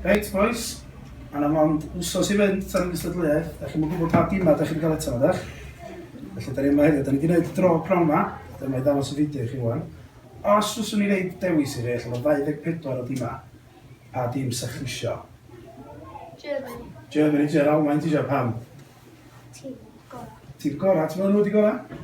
Reit bois, a na mond wsos i fynd tan y gystadleuaeth, da chi'n gwybod pa dîmau da chi'n cael eto, ydych? Felly, da ni yma hefyd, da ni wedi gwneud dro prawn yma, dyma i ddangos y fideo i chi wan. Os fyswn i reid dewis i chi, allan o 24 o dîmau, pa dîm sa chi isio? Germany. Germany, ti ar Almain, ti eisiau pam? Tîm gorau. Tîm gorau, ti'n meddwl nhw wedi gorau?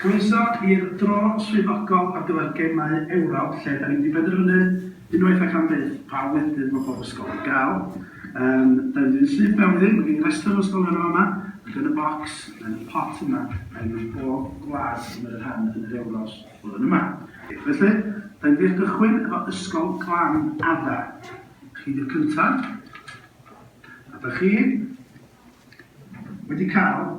Croeso i'r dro swyddogol ar gyfer Gemau Ewrop lle dan ni wedi penderfynu unwaith ac am byth pa flwyddyn mae pob ysgol yn cael yym dan ni'n syth mewn iddi, mae gen i restr o ysgolion yn fama ac yn y bocs yn y pot yma mae gen i bob gwlad sy'n cymryd rhan yn yr Ewros flwyddyn yma. Felly, dan ni'n mynd i gychwyn efo Ysgol Glan Adda. Chi di'r cyntaf a dach chi wedi cael